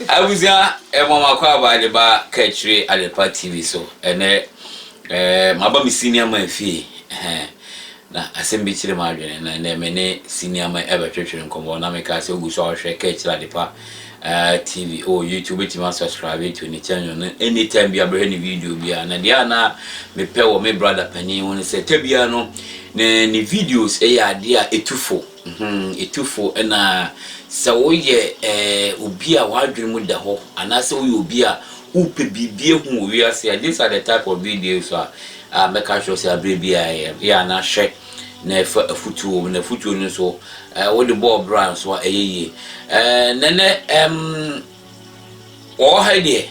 abusua ɛma ma kɔ aba de ba kɛkyire adepa tv so ɛnɛ ɛɛ eh, maba me senior man fie ɛhɛn na asɛm bi kyerɛ mu adwene na ɛnɛ me ne senior man ɛbɛtwetwere nkɔmɔ na meka sɛ ogu so a ɔhwɛ kɛkyire adepa Ahh TV oh YouTube wobɛtumi a subscribe to ne channel no anytime bia bɛhwɛ ne video bia na deɛ a na mepɛ wɔ me brother panin ho no sɛ ta bia no ne ne videos ɛyɛ adeɛ a ɛtufo ɛtufo mhm, ɛna sɛ woyɛ eh, obi a w'adwene mu da hɔ anaasɛ woyɛ obi a wopɛ biribi ahu wɔ wiase a these are the type of videos a mɛka kyerɛ sɛ aberɛ bi a yɛ yɛ anahwɛ Na ɛfa afutuo ho, na afutuo no nso eh, wode bɔɔ bra nso a ɛyɛ yie. Eh, nɛnɛ em, wɔwɔ ha deɛ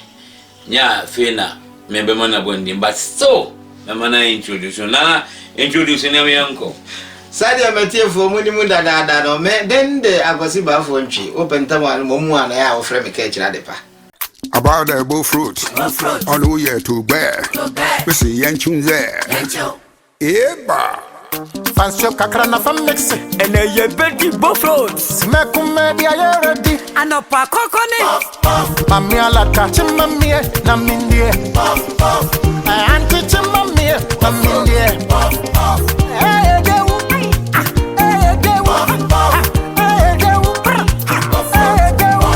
nyɛ a fei na mebɛma no abɔ ne din but still mɛma no introduce no nana introduce nneɛma yɛn nkɔ. Sɛdeɛ m'atiefoɔ monim dadaada no, me den de Akwasi Baafoɔ Ntwi, wopɛ ntam a no mmom mu a na ɛyɛ a wofrɛ me Kɛkyerɛ Adepa. About the bull fruit, ɔno woyɛ to gbɛɛ, mese yɛnkyew nzɛɛ. Eeba! Fa nsuo kakra na fa mixe. Ɛnɛ yɛ bɛ di both roads. Mɛ ko mɛ di ayɛ ready. Anɔpa kɔkɔ ne. Puff puff. Mami alata kye ma miɛ na mi ndiɛ. Puff puff. Ɛ aunty kye ma miɛ na mi ndiɛ. Puff puff. Ɛ edewu. Ɛ edewu. Puff puff. Ɛ edewu. Ɛ edewu.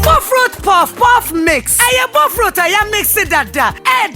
Puff road puff puff mix. Ɛyɛ both road a yɛ mixe dada. Ɛ.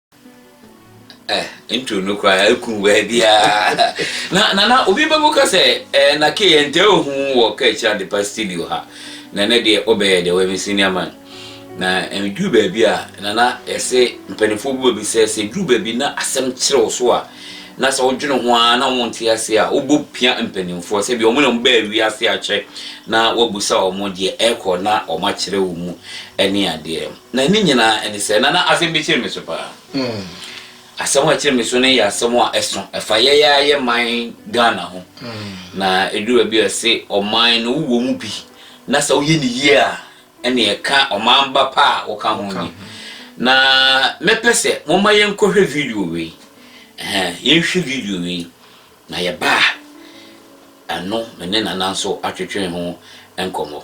Eh, intro no koraa ɛku baabiaa na na na obi bɛbu ka sɛ eh, na ke yɛntɛ ohu wɔ ka akyira de pa studio ha na ne deɛ wobɛyɛ deɛ wɔyɛ me senior man na ɛduru eh, baabi a na na yɛse mpanimfoɔ bu baabi sɛ sɛ duru baabi na asɛm kyerɛ wo so a na sɛ wodwene ho a na wonte ase a wobɔ pia mpanimfoɔ sɛ bi ɔmo na ɔmo bɛɛ wi ase akyɛ na wabusa ɔmo deɛ ɛkɔ na ɔmo akyerɛ wo mu ɛne adeɛ Na ne nyinaa ne sɛ, na na asɛm bi kyere me so paa. Asɛm a ɛkyere me so no yɛ asɛm a ɛso. Ɛfa yɛn ara yɛn man Ghana ho. Na ɛduru baabi a wɔse ɔman no wowɔ mu bi na sɛ woyɛ no yie a, ɛnneɛ ɛka ɔman ba pa a woka ho ni. Na mɛpɛ sɛ momma yɛnkɔhwɛ video wei. Ɛhɛn, yɛnhwɛ video wei. Na yɛbaa ha ɛno me ne Nana nso atwetwee ho nkɔmmɔ.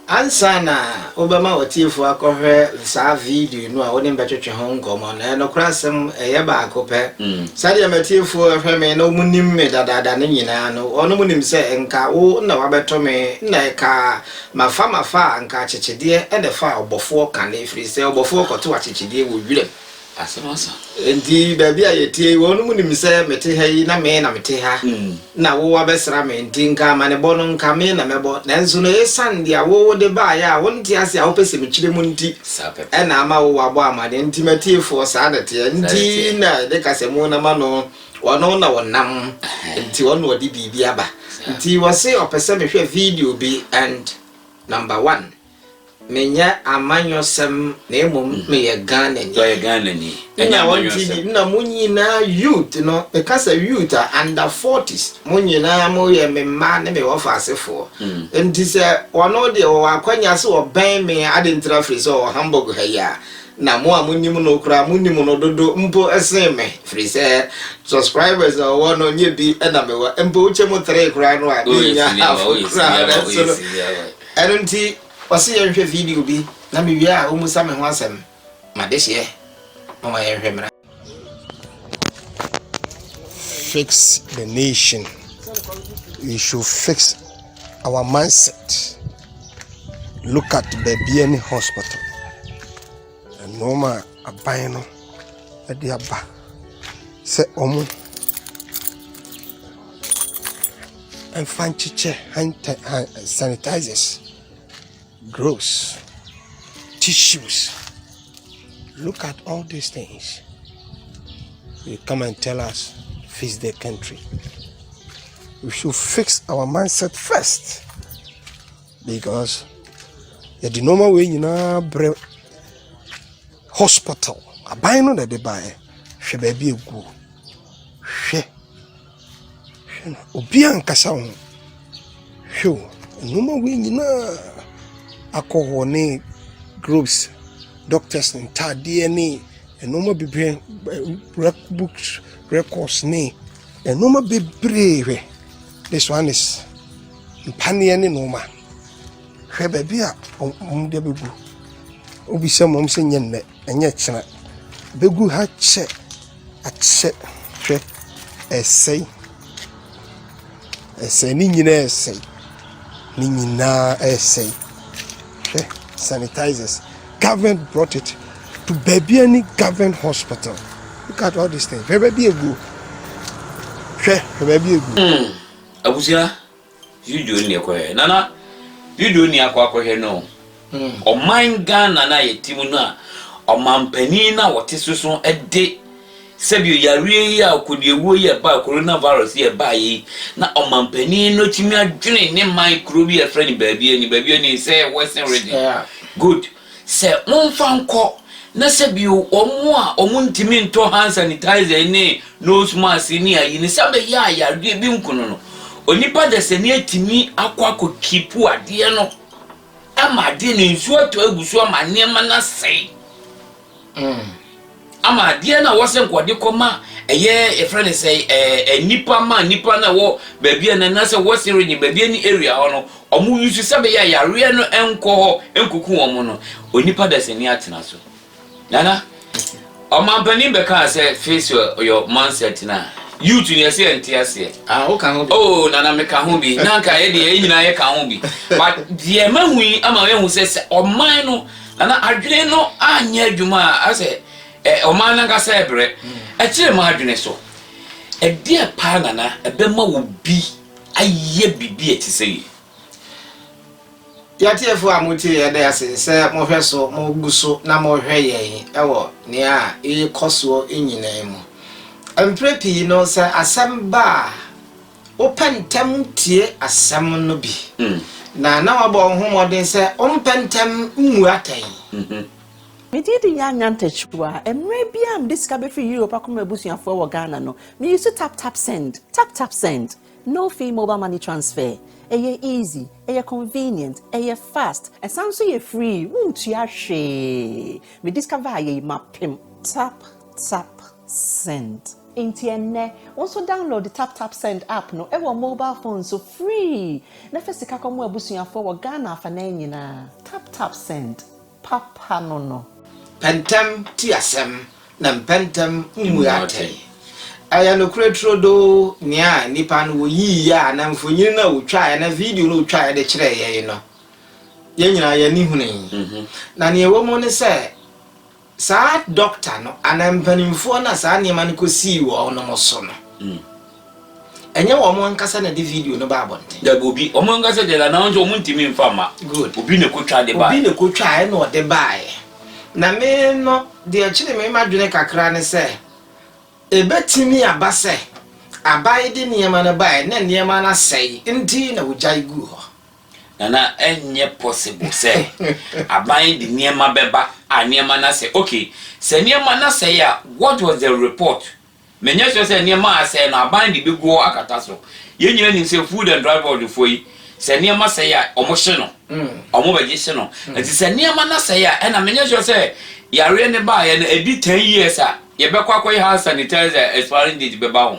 Ansa na wobɛma w'atiefoɔ akɔhwɛ saa video no a wo ne me bɛtwetwe ho nkɔmmɔ no, nokorɛ asɛm ɛyɛ baako pɛ. Sɛdeɛ m'atiefoɔ ɛhwɛ me na wɔn nim me dadaada no nyinaa no, wɔnom nim sɛ nka wo na wabɛto me na ɛka mafa mafa a nka akyekyedeɛ na ɛfa ɔbɔfoɔ ka no, ɛfiri sɛ ɔbɔfoɔ kɔto akyekyedeɛ wɔ wiram. Asɛm asa. Enti baabi a yɛtie yi, wɔnom nim sɛ mete ha yi na me na mete ha, na wo abɛsra me, enti nka amanebɔ no nka me na mɛbɔ, nanso no esiane deɛ wo wode baeɛ a wonte ase a wopɛ sɛ mekyire mu nti na ama wo abɔ amanneɛ, enti m'atiefoɔ saa na ɛteɛ, enti na yɛde ka sɛ mo na ma no, ɔno na ɔnam, enti ɔno na ɔde biribi aba, enti wɔse ɔpɛ sɛ mehwɛ video bi and number one. Menyɛ amanyɔsɛm na mmom meyɛ Ghanani. Ɔyɛ Ghanani, ɛnyɛ amanyɔsɛm. Nna mo nyinaa youth no, meka sɛ youth a, under forties, mo nyinaa moyɛ me mma ne me wɔfa asefoɔ. Nti sɛ ɔno deɛ ɔwɔ akwanya sɛ ɔbɛn me a, adɛn ntira firi sɛ ɔwɔ Hamburg ha yi a, na mo a monim no koraa monim no dodo mpo sen me, firi sɛ subscribers a ɔwɔ no nyɛ bi na mewɔ. Mpo wokyɛ mu three koraa no a, mennya half koraa nanso no. Ɛno nti, wɔse yɛnhwɛ video bi na mewie a wommisa me ho asɛm. M'adehyeɛ, momma yɛnhwɛ mmra. Fix the nation. We should fix our mindset. Look at baabi ne hospital. Nnoɔma a aban no de aba sɛ wɔmfa nkyekyɛ hand ta hand sanitizers, gloves, tissues. Look at all these things. You come and tell us, fix the country. We should fix our mindset first. Because yɛde nneɛma wei nyinaa brɛ hospital aban no na ɛde baeɛ hwɛ baabi eguo hwɛ hwɛ no obi ankasa ho hwɛ o nneɛma wei nyinaa akɔ hɔ ne groups doctors ntaadeɛ ne nneɛma bebree books records ne nneɛma bebree hwɛ. Besuanes, mpaneɛ ne nnoɔma. Hwɛ baabi a wɔn de bɛgu. Wobisa mu a, wɔn sɛ nyɛ nnɛ, ɛnyɛ kyena. Bɛgu ha kyɛ, akyɛ, hwɛ, ɛsɛe. Ɛsɛe, ne nyinaa ɛsɛe. Ne nyinaa ɛsɛe. Hwɛ sanitizers government brought it to baabi ani government hospital look at all these things hwɛ baabi egu hwɛ hwɛ baabi egu. Hmm, abusua video ni ɛkɔhwɛ nana video ni akɔ akɔhwɛ no hmm. ɔman Ghana na yɛ ti mu no a ɔmanpanin na wɔte soso de. Sɛbio yareɛ yi a ɔkodiawuo yi a ɛbaa corona virus yi a ɛbaa yi na ɔmanpanin no tumi adwene ne man kuro bi a ɛfrɛ no baabi ani baabi ani sɛ western region good sɛ momfa nkɔ na sɛbio wɔn a wɔn ntumi ntɔ hand sanitizer ne nose mask ne ayi ne sɛ bɛyɛ a yareɛ bi nkono no onipa dasani atumi akɔ akɔ kipu adeɛ no ama adeɛ no nsuo atɔ agu so ama nneɛma no asɛe Ama adeɛ no a wɔsɛ nka wɔde kɔ ma ɛyɛ yɛfrɛ no sɛ ɛɛ nipa ma nipa no a wɔ baabi a na na sɛ wɔ serege baabi ɛne area hɔ no wɔn yi so sɛ bɛyɛ a yareɛ no nkɔ hɔ nkuku wɔn no onipa dasani atena so nana ɔmanpanin bɛkaa sɛ face your mindset na youth ni ɛsɛ yɛn te aseɛ. ah o ka ho bi oh nana me ka ho bi na nka yɛ deɛ yɛ nyinaa yɛ ka ho bi but deɛ ma hu yi ama yɛ hu sɛ sɛ ɔman no Na na adwene no anyɛ adwuma a asɛ ɛ ɔman no ankasa rebrɛ. Ɛkyerɛ mo adwene so. Ɛdeɛn paa na na ɛbɛma obi ayɛ biribi a ɛte sɛi? Yɛn atiefoɔ a motie yɛn yɛda ase sɛ mohwɛ so, mogu so na mohwɛ yɛn wɔ nea ɛrekɔ soɔ nyinaa mu. Mprɛ pii no sɛ asɛm ba a, Wopɛ ntɛm tie asɛm no bi, na na woabɔ wo ho mmɔden sɛ wompɛ ntɛm mmu atɛn. Me din de Yaa Nyantakyiwaa. Mmerɛ biara a mede sika bɛfiri Europe akɔ ma m'abusuafoɔ ɛwɔ Ghana no, me use tap tap send, tap tap send. No fee mobile money transfer. Ɛyɛ easy, ɛyɛ convenient, ɛyɛ fast, ɛsan nso yɛ free, wontua hwee. Me discover ayɛ yi mapem. Tap tap. send. Nti ɛnnɛ wo nso download tap tap send app no wɔ mobile phone so free na fa sika kɔma w'abusuafoɔ wɔ Ghana afanan nyinaa. Tap tap send, papa no no. Pɛ ntɛm ti asɛm na mpɛ ntɛm mmua atɛn. Ɛyɛ nokorɛ turodoo nea nnipa no wɔyiiɛ a na mfonini no a wɔtwaeɛ anaa video no a wɔtwaeɛ de kyerɛɛ yɛn no, yɛn nyinaa yɛn ani hunui. Na nea ɛwɔ mu ne sɛ Saa dɔkta no anaa mpanimfoɔ no a saa nneɛma no kɔsii wɔn no so no, ɛnyɛ wɔn ankasa na ɛde video no baa abɔnten? Dabi, obi. Wɔn ankasa deɛ na wɔn nso wɔntumi mfa mma. Good. Obi na ɛkɔtwa de baeɛ. Obi na ɛkɔtwa ɛna ɔde baeɛ. Na me no, deɛ ɛkyere me m'adwene kakra ne sɛ, ɛbɛtumi aba sɛ aban de nneɛma no baeɛ na nneɛma no asɛe nti na wɔgyae guu hɔ. Na na ɛnyɛ possible sɛ aban de nneɛma bɛba a nneɛma no asɛe. Okay, sɛ nneɛma no asɛe a, what was the report? Menyɛ sure sɛ nneɛma a asɛe no aban de bɛgu hɔ akata so. Yɛn nyinaa nim sɛ Food and Drug Board foɔ yi, sɛ nneɛma sɛe a, wɔhye no. Wɔbɛgye hye no. Nti sɛ nneɛma no asɛe a, ɛnna menyɛ sure sɛ yareɛ no baeɛ no, ɛdi ten years a, yɛbɛkɔ akɔyɛ hand sanitizer expiring date bɛba ho.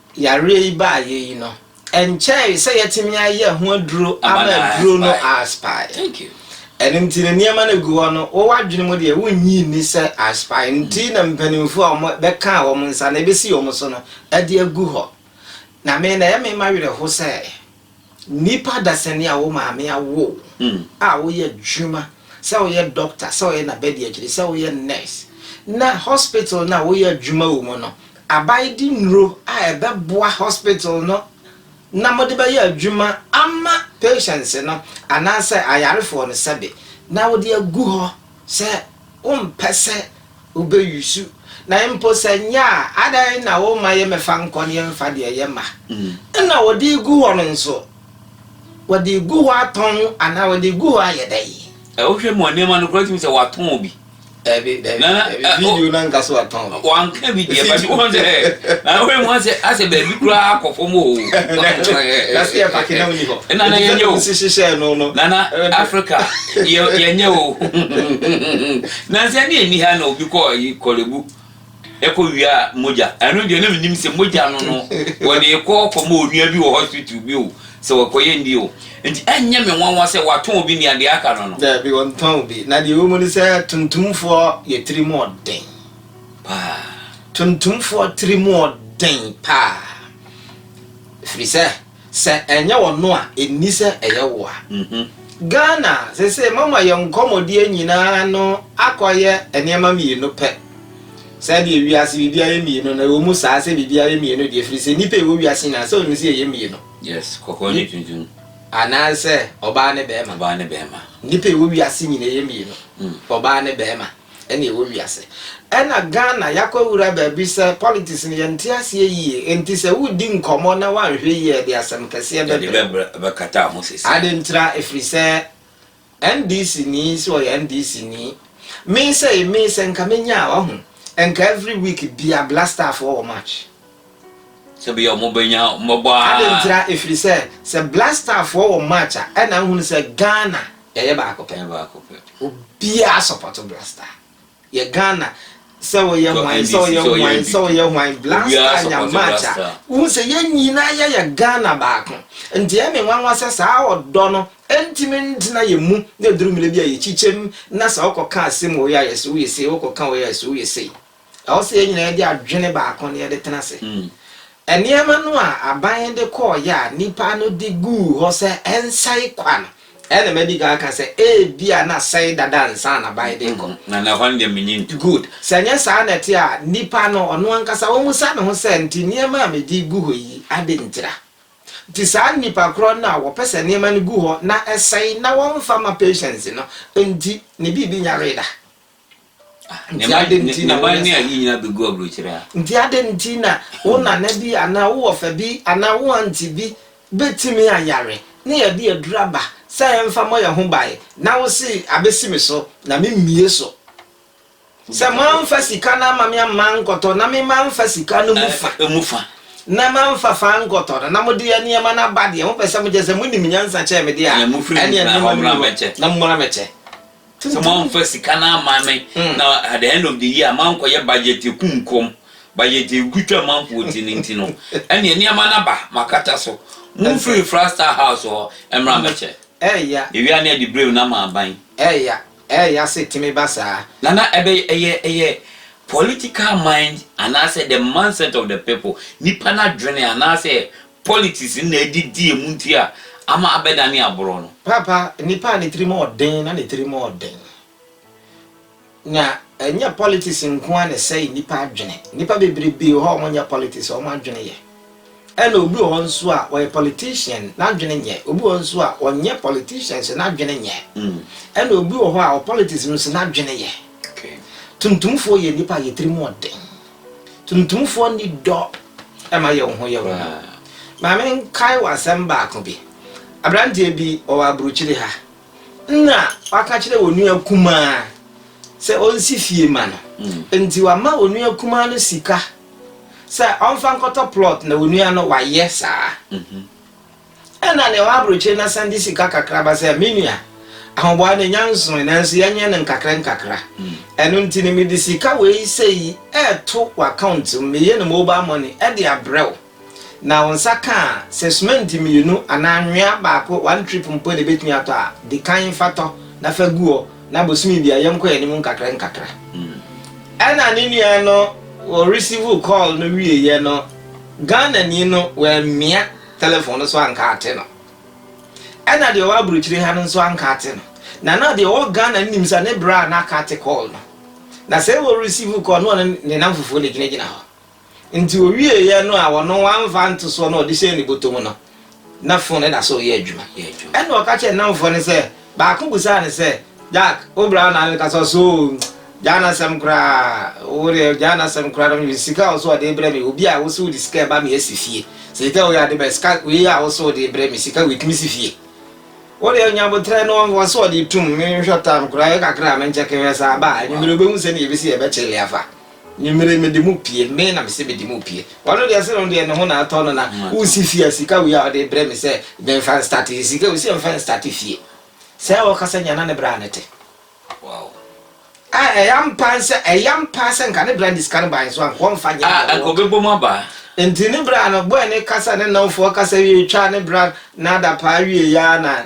Yareɛ yi baeɛ yi no, ɛnkyɛɛe sɛ yɛatumi ayɛ ho aduro ama aduro no aspire. Ɛno nti no, nneɛma no gu hɔ no, wo w'adwene mu deɛ wonnye nni sɛ aspire. Nti na mpanimfoɔ a wɔbɛkaa wɔn nsa na ɛbɛsi wɔn so no de agu hɔ. Na me na ɛyɛ me mawerɛho sɛ Nnipa adasani a wo maame awo wo a woyɛ adwuma, sɛ woyɛ dɔkta, sɛ woyɛ n'abadiakyiri, sɛ woyɛ nurse, na hospital no a woyɛ adwuma wɔ mu no abae de nnuro a ɛbɛboa hospital no na mode bɛyɛ adwuma ama patients no anaasɛ ayarefoɔ no sɛbe na wode agu hɔ Sɛ wompɛ sɛ wobɛ use na mpo sɛ nyɛ a adɛn na woma yɛ mɛfa nkɔ ne yɛmfa deɛ yɛ ma nna wɔde gu hɔ no nso wɔde gu hɔ atɔn anaa wɔde gu hɔ ayɛ dɛn. Wohwɛ mu a nneɛma no koraa tumi sɛ wɔatɔn bi. Daabi daabi daabi video no anka sɛ wɔatɔn. Wanka bi deɛ ba bi wɔn sɛ ɛɛ na wɔn mu asɛ asɛ baabi koraa akɔ fam o. Na se yɛ paki na ɔni hɔ. Ɛna na yɛnyɛ o. Sisi hyɛ no no. Nana Africa yɛ yɛnyɛ o. Nansa ne ɛni ha na obi kɔ yi kɔrebu ɛkɔ wia mogya. Ɛno deɛ na menim sɛ mogya no no wɔde kɔ kɔ ma onua bi wɔ hospital bi o sɛ wɔkɔ yɛ ni o. Nti ɛnyɛ me nwanwa sɛ watɔn obi nea deɛ aka no no. Daabi wɔntɔn obi. Na deɛ ɛwɔ mu ne sɛ tuntumfoɔ yɛ tirim ɔden. paa. Tuntumfoɔ tiri mu ɔden paa. Ɛfiri sɛ, sɛ ɛnyɛ ɔno a, ɛnni sɛ ɛyɛ wo a. Ghana seesei moama yɛn nkɔmmɔdie nyinaa no akɔyɛ nneɛma mmienu pɛ. Sɛdeɛ wiase biribiara yɛ mmienu no, ɛwɔ mu saa sɛ biribiara yɛ mmienu deɛ, ɛfiri sɛ nnipa a ɛwɔ wiase nyinaa sɛ wonim sɛ yɛyɛ mmienu. Yes, kɔkɔɔ ne tuntum. Anaasɛ ɔbaa ne barima. Ɔbaa ne barima. Nnipa a ɛwɔ wiase nyinaa yɛ mmienu, ɔbaa ne barima. ɛna ɛwɔ wiase ɛna Ghana yakɔ awura baabi sɛ politics no yɛnte aseɛ yie nti sɛ wodi nkɔmmɔ na wanhwɛ yie ɛde asɛm kɛseɛ bɛbrɛ wo bɛkata ho sɛsi ade ntira ɛfiri sɛ NDC ni sɛ ɔyɛ NDC ni me sɛ me sɛ nka menya a wahu nka every week bia blastafoɔ wɔ match. sɛ bia ɔmo bɛnya mmɔbɔ aa. Adɛn ntira ɛfiri sɛ sɛ black star foɔ wɔ match a ɛna wohunu sɛ Ghana yɛyɛ baako pɛ. Yɛyɛ baako pɛ. Obiara support black star yɛ Ghana sɛ woyɛ Sɛ hwan NDC sɛ woyɛ sɛ ɔyɛ hwan sɛ NPP woyɛ hwan black obiara star nya support black match a star. wohu sɛ yɛn nyinaa yɛyɛ Ghana baako nti ɛyɛ me nwanwa sɛ saa ɔdɔ no ɛntumi ntena yɛn mu na ɛduru mmerɛ bi a yɛkyikyɛm na sɛ wokɔka asɛm wɔ wei a yɛ se woyɛ sei wokɔka wei a yɛ se woyɛ sei. Ɛwɔ sɛ yɛn nyinaa de adwene baako na yɛde tena ase. Nneɛma no a aban de kɔeɛ a nnipa no de guu hɔ sɛ ɛnsɛe kwa no, ɛna madi kan aka sɛ ebia na asɛe dada ansa na aban de rekɔ. Na na ɛhɔ no deɛ mennye ntom. Good. Sɛ ɛnyɛ saa na ɛte a, nnipa no, ɔno ankasa, ɔmmisa ne ho sɛ, Nti nneɛma a mede regu hɔ yi, adɛn ntira? Nti saa nnipa korɔ no a wɔpɛ sɛ nneɛma no gu hɔ na ɛsɛe na wɔmfa mma patients no nti, ne biribi nyaree da? Ne mma ne mma ne ayi nyinaa bɛgu aburokyerɛ a. Nti adɛn nti na wo hmm. nana bi anaa wo wɔfa bi anaa wo ante bi bɛtumi ayare ne yɛde aduru aba sɛ yɛmfa mmɔ yɛn ho bae na wo se abɛsi me so na memmie so sɛ moamfa sika no ama me amma nkɔtɔ na me mamfa sika no mu eh, fa eh, mu fa na mamfa fa nkɔtɔ no na mode yɛ nneɛma no aba deɛ mopɛ sɛ mokyɛ sɛ monim nyansa kyɛɛ me deɛ a ɛneɛ nneɛma no na mommra mɛkyɛ Kyɛ sɛ moamfa sika no amma me, na at the end of the year moankɔyɛ budget akumkɔm, budget a ɛgu twa amanfoɔ ti no nti no, ɛnneɛ nneɛma no aba, moakata so. Momfiri Frastal House hɔ mmra mmɛkyɛ. Ɛɛya. Yɛwia ne adiberem na maaban. Ɛɛya, ɛɛya sɛ ɛtumi ba saa. Nana, ɛbɛ, ɛyɛ, ɛyɛ political mind anaasɛ the mindset of the people, nnipa no adwene anaasɛ Politics no na adidi emu nti a ama abɛdane aborɔ no. Paapa nipa a ne tiri mu ɔden na ne tiri mu ɔden na ɛnyɛ politics nko ara na ɛsɛe nipa adwene nipa bebrebe wɔ hɔ a wɔn nyɛ politics wɔn adwene yɛ ɛna obi wɔ hɔ nso a ɔyɛ politician n'adwene nyɛ obi wɔ nso a ɔnyɛ politician nso n'adwene nyɛ mm. ɛna obi wɔ hɔ a ɔpolitics no nso n'adwene yɛ okay. tuntumfoɔ yɛ nipa a yɛ tiri mu ɔden Tuntumfoɔ nni dɔ ma yɛ wo ho yɛ wo ho. Ma menkae wo asɛm baako bi. Aberanteɛ bi, ɔwɔ aburokyire ha, na waka kyerɛ wɔn nua kumaa sɛ ɔnsi fie ma no. Nti wama wɔn nua kumaa no sika sɛ ɔmfa nkɔtɔ plot na wɔn nua no wayɛ saa. Ɛnna nea ɔwɔ aburokyiri na san de sika kakra ba sɛ, 'Me nua, ahoboa no nya nsoe, nanso yɛnyɛ no nkakrankakra. Ɛno nti no, mede sika wei sɛɛ yi reto w'akaunt mu, meyɛ no mobile money de abrɛ wo. Na wo nsa ka a, sɛ sumɛnte mmienu anaa anwea baako, one trip, mpo na ebetumi atɔ a, di kan fa tɔ na fa gu hɔ, na bosome biara yɛnkɔ yɛn anim nkakrankakra. Ɛnna ne nua no resivw kɔɔl no wieeɛ no, Ghanani no wammia telefon no so anka ate no. Ɛna deɛ ɔwɔ aburokyire ha no nso anka ate no. Na na deɛ ɔwɔ Ghana no nim sɛ ne bra na aka ate call no. Na sɛ wɔ receive call no ɔne ne nam fufuo na ɛgyinagyina hɔ. Nti ɔwieeɛ no a ɔno wamfa ntosoɔ no a ɔde hyɛɛ ne bɔtɔ mu no, na fon no da so reyɛ adwuma. Ɛnna ɔka kyerɛɛ ne nnamfoɔ no sɛ, Baako bisaa no sɛ, Jack, wo bra na meka sɛ ɔsɛ oo, gyaa n'asɛm koraa, wo deɛ gyaa n'asɛm koraa na mede me sika a ɔsɛ ɔde rebrɛ me, obi a wosɛ wode sika reba me asi fie, sɛ sika wei ade bɛn, sika wei a wosɛ wode rebrɛ me, sika wei tumi si fie? Wo deɛ nya aboterɛ no ɔsɛ ɔde retum, menhwɛ time koraa, ɛyɛ kakra a menkyɛke hwɛ saa ba a, anwummere wobɛhu sɛdeɛ yɛbɛsi yɛbɛkyele afa. Nwummere mede mo pue, me na mese mede mo pue. Ɔno deɛ se no deɛ ne ho na atɔ no na wosi fie a sika wei a ɔde brɛ me sɛ memfa nstate yɛ sika ɔsi ɛmfa nstate fie. Sɛɛ ɔkasa nya na ne bra no te. Wow. A ɛyɛ ampa sɛ ɛyɛ ampa sɛ nka ne bra ne sika no baa nso anka ɔmfa nyɛ deɛ wɔka. Anka ɔbɛbɔ mu aba. Nti ne bra no bɔɔ ne kasa ne nnamfoɔ kasa wie twaa ne bra no adapaa wie ya na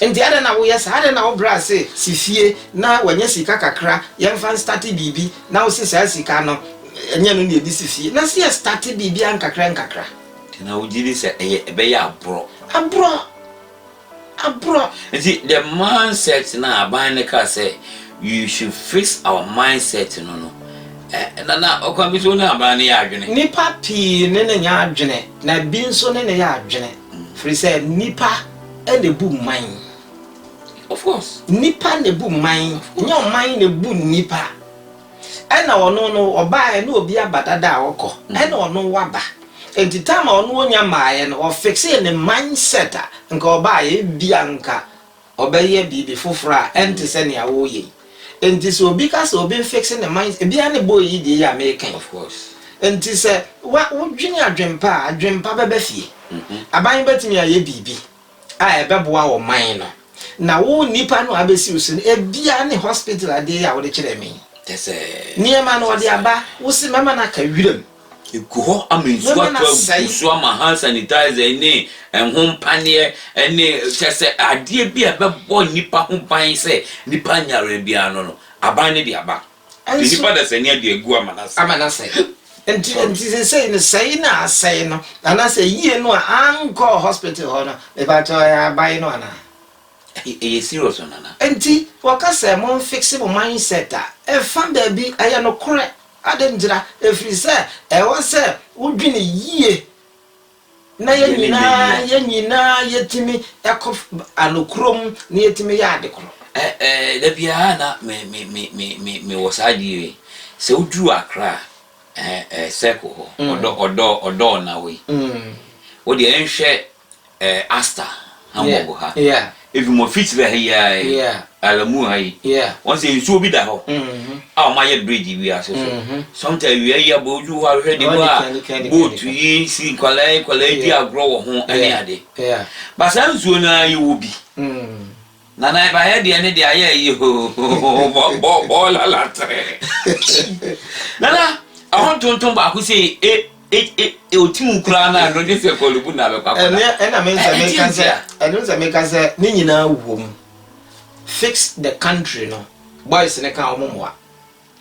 Nti adɛn na woyɛ saa? Adɛn na wobrɛ ase si fie na wanya sika kakra, yɛmfa nstate biribi, na wose saa sika no, ɛnyɛ ɛno na yɛde si fie? Na sɛ yɛstate biribi a nkakra nkakra? Na wogye di sɛ ɛyɛ, ɛbɛyɛ aborɔ. Aborɔ! Aborɔ! Nti the mindset no a aban no kaa sɛ we should fix our mindset no no, ɛ, na, na ɔkwan bi so wo ne aban no yɛ adwene? Nnipa pii ne no nyɛ adwene, na bi nso ne no yɛ adwene, firi sɛ nnipa. na ebu mman. Of course. Nnipa na ebu mman. Nyɛ ɔman na ebu nnipa. Ɛna ɔno no ɔbaeɛ na obi aba dada a ɔkɔ. Mm. Ɛna ɔno waba. Nti time a ɔno onya maaeɛ no ɔfixee ne mindset a nka ɔbaeɛ ebia nka ɔbɛyɛ biribi foforɔ a ɛnte sɛ nea ɔreyɛ yi. Nti sɛ obi ka sɛ obi nfixe ne mind ebiaa ne boy yi deɛ yi a meeka yi. Of course. Nti sɛ wa wo dwene adwen pa a adwen pa bɛba fie. Aban bɛtumi ayɛ biribi a ɛbɛboa ɔman no na wo nipa no a abɛsi wo so no ebiaa ne hospital adeɛ yi a wode kyerɛɛ me yi. Nneɛma no ɔde aba wo se mɛma no aka wiram. Egu hɔ ama nsuo atɔ agu so ama hand sanitizer ne ɛho mpaneɛ ne kyɛ sɛ adeɛ bi a ɛbɛbɔ nnipa ho ban sɛ nnipa nyɛ awerɛ biara no no aban no de aba. Nti nnipa dasani ade agu ama no asɛe. Ama no asɛe. Nti nti sesei no sɛe no a asɛe no anaasɛ yie no a ankɔɔ hospital hɔ no mepakyɛw ɛyɛ aban no anaa? Ɛyɛ serious o Nana. Nti wɔka sɛ monfixe mo mindset a ɛfa baabi ɛyɛ nokorɛ. Adɛn ntira? Ɛfiri sɛ ɛwɔ sɛ wodwene yie na yɛn nyinaa yɛn nyinaa yɛtumi kɔ anokorɔm na yɛtumi yɛ ade korɔ. Da biara na mewɔ saa adeɛ wei, sɛ woduru Accra circle hɔ, ɔdɔɔ na wei, wodeɛ nhwɛ eh, Asta Hamburg ha, efi Moffitt's ha yi ara yi, Alamu ha yi, wɔn sɛ nsuo bi da hɔ a wɔn ayɛ bridge wiase so. Sometimes awia yi abɔ ojú hɔ ahwɛ de mu a boat yi si nkwadaa yi nkwadaa yi di agorɔ wɔ ho ɛne ade. Ba saa nsuo no ara yɛ wɔ bi. Nana ɛba ha deɛ ne deɛ ayɛ ayi hoo bɔ bɔ bɔ lala tere nana ɛho ntontom baako sɛ e e e otim koraa na no de sɛ kɔlubu na bɛkɔ akɔda ɛnɛ ɛna me nsɛ me ka sɛ ɛno nsɛ me ka sɛ ne nyinaa wom fix the country no boys ne ka wɔn mmoa.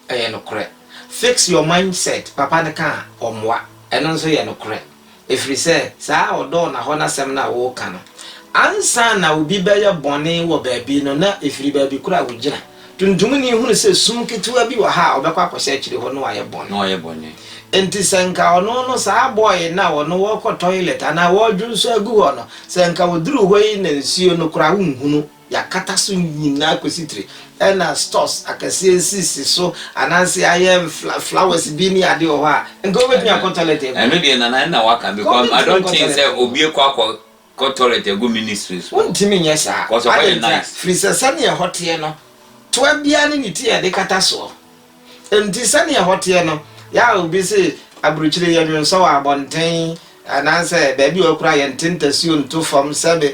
Ɛyɛ nokorɛ. Fix your mind set, papa no ka a, ɔmmoa. Ɛno nso yɛ nokorɛ. Ɛfiri sɛ, saa ɔdɔ ɔnahɔ no asɛm no a woreka no, ansa na obi bɛyɛ bɔne wɔ baabi no, na ɛfiri baabi korɔ a wogyina. Tuntumni hunu sɛ sum ketewa bi wɔ ha a ɔbɛkɔ akɔhyɛ akyire hɔ na wayɛ bɔne. Na wayɛ bɔne. Enti sɛ nka ɔno no, saa boy no a ɔno ɔrekɔ toilet anaa ɔredwonsɔ agu hɔ no, sɛ nka ɔduru hɔ yi na nsuo no koraa wonhunu. Yɛakata so nyinaa kɔsi tire. Ɛna stores akɛseɛ nsisi so anaasɛ ayɛ fla flowers bi ne adeɛ wɔ hɔ a, nka wobɛtumi akɔ toilet agu. Ɛno deɛ Nana ɛna waka because I don't think sɛ obi ɛkɔ akɔ kɔ toilet agu ministry so. Wontumi nyɛ saa. Because ɛhɔ yɛ nice. Firi sɛ sɛdeɛ ɛhɔ teɛ no, toa biara ne ne ti a yɛde kata soɔ. Nti sɛdeɛ ɛhɔ teɛ no, yɛ a obi se aburukyire yɛnwe nsɔ wɔ abɔnten anaasɛ baabi a ɔkura yɛnte ntasuo nto fam sɛbe.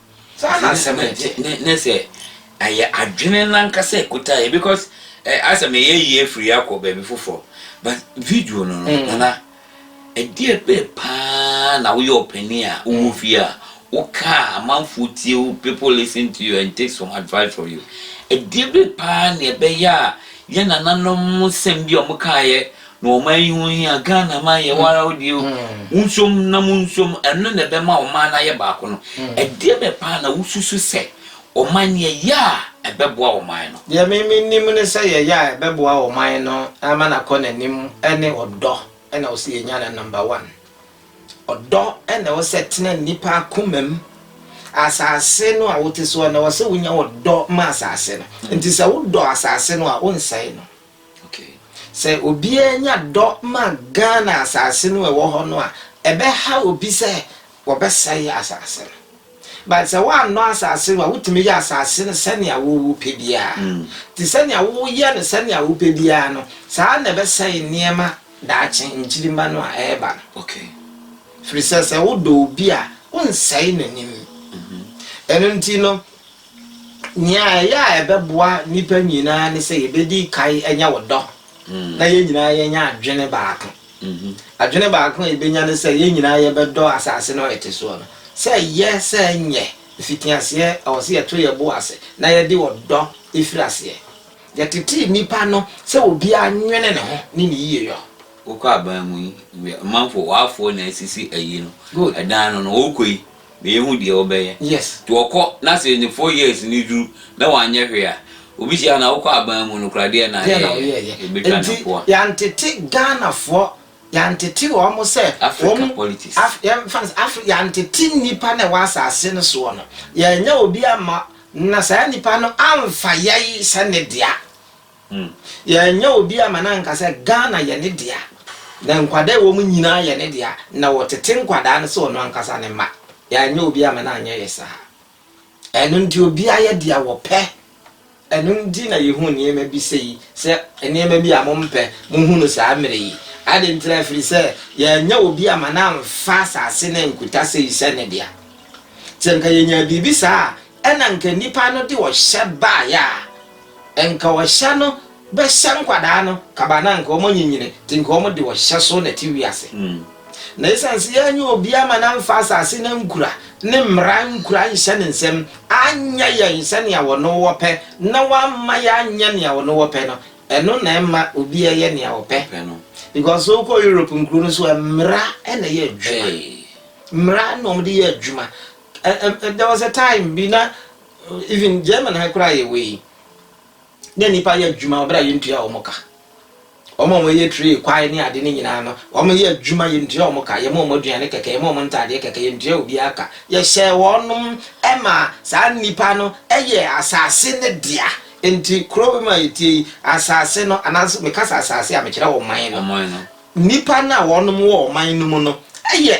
Saa na asɛm no te. Ne sɛ ɛyɛ adwene no ankasa a ɛkuta yɛ because eh, asɛ meyɛ yie firi akɔ baabi foforɔ but video no no mm. nana ɛdeɛ bɛɛ paa na woyɛ ɔpanin a wowɔ mm. fie a woka a amanfoɔ tie wo people listen to you and take some advice from you ɛdeɛ bɛɛ paa na ɛbɛyɛ a yɛ nananom nsɛm bi a wɔkaeɛ Na ɔman yi ho hia. Ghana man yɛ wo ara wo deɛ o. Wonsom na monsom, ɛno na ɛbɛma ɔman no ayɛ baako no. Ɛdeɛ bɛn paa na wosusu sɛ ɔman no yɛyɛ a ɛbɛboa ɔman no? Deɛ me menim ne sɛ yɛyɛ a ɛbɛboa ɔman no ama no akɔ n'anim ne ɔdɔ na ɛwɔ sɛ yɛnya no number one. Ɔdɔ na ɛwɔ sɛ ɛtena nnipa akoma mu. Asase no a wote soɔ no, ɛwɔ sɛ wonya ɔdɔ ma asase no. Nti sɛ wodɔ asase no a, wonsɛe no. Okay. Sɛ obiara nya dɔ ma Ghana asase no a ɛwɔ hɔ no a, ɛbɛhaw obi sɛ wɔbɛsɛe asase no. But sɛ woannɔ asase no a, wotumi yɛ asase no sɛnea wopɛ biara. Nti sɛnea woyɛ no sɛnea wopɛ biara no, saa ara na ɛbɛsɛe nneɛma daakye, nkyirimma no a ɛreba no. Okay. Ɛfiri sɛ, sɛ wodɔ obi a, wonsɛe n'anim. Ɛno nti no. Nea ɛyɛ a ɛbɛboa nnipa nyinaa ne sɛ yebedi kan anya wo dɔ na yɛn nyinaa yɛanya adwene baako. Adwene baako a yebenya ne sɛ yɛn nyinaa yɛbɛdɔ asase no a yɛte so no. Sɛ ɛyɛ sɛ ɛnyɛ mfitiaseɛ, ɛwɔ sɛ yɛto yɛn bo ase na yɛde ɔdɔ firi aseɛ. Yɛtetee nnipa no sɛ obiara nnwene ne ho ne ne yiyeyɔ. Wokɔ aban mu yi, ɔmanfo, w'afoɔ na asisi ayi no, ɛdan no no, wokɔ yi. na yehu deɛ wobɛyɛ. Yes. Nti wɔkɔ na sɛ ne four years no duru na wanyɛ hwee a, obi hyia no a, wokɔ aban mu no koraa deɛn na Deɛn na ayɛeɛ? woyɛeɛ? Yɛbɛtwa no Nti mpoa. yɛantete Ghanafoɔ, yɛantete wɔn sɛ wɔn, Africa politics. Af, yɛmfa no sɛ Afri, yɛantete nnipa no a ɛwɔ asase no soɔ no, yɛannya obi amma, na saa nnipa no amfa yɛn sɛ ne dea. Yɛanyɛ obi amma no anka sɛ Ghana yɛ ne dea, na nkwadaa a ɛwɔ mu nyinaa yɛ ne dea, na ɔtete nkwadaa no sɛ ɔno ankasa ne mma. Yɛanyɛ obi amma no anyɛ yɛ saa. Ɛno nti, obiara yɛ deɛ wɔpɛ. Ɛno nti na yɛhu nneɛma bi sɛ yi, sɛ nneɛma bi a mompɛ, mohu no saa mmerɛ yi. Adɛn ntira? Ɛfiri sɛ, yɛanyɛ obi amma no amfa asase no ankuta sɛ yi sɛ ne dea. Sɛ anka yɛnyaa biribi saa a, ɛnna anka nnipa no de ɔhyɛ baeɛ a Nka ɔhyɛ no bɛhyɛ nkwadaa no kaban na nka wɔanyinyini te nka wɔde ɔhyɛ so na ɛte wiase. Na esiane sɛ yɛanyɛ obi ama no amfa asase no ankura, ne mmara ankura anhyɛ ne nsam, anyɛ yɛn sɛnea ɔno ɔpɛ, na wamma yɛanyɛ nea ɔno ɔpɛ no, ɛno na ɛma obiara yɛ nea ɔpɛ. Because sɛ wokɔ Europe nkuro no so a, mmara na ɛyɛ adwuma. Mmara na wɔde yɛ adwuma. There was a time bi na Even German ha koraa yɛwei na nnipa yɛ adwuma ɔbɛrɛ a yɛntua wɔn ka wɔn a wɔyɛ tray kwae ne ade ne nyinaa no wɔn yɛ adwuma yɛntua wɔn ka yɛma wɔn aduane kɛkɛ yɛma wɔn ntaadeɛ kɛkɛ yɛntua obiara ka yɛhyɛ wɔn ɛma saa nnipa no ɛyɛ asase ne dea nti kuro bi mu a yɛtie yi asase no anaasɛ meka sɛ asase a mekyerɛ wɔn man no nnipa no a wɔn wɔ wɔn man no mu no ɛyɛ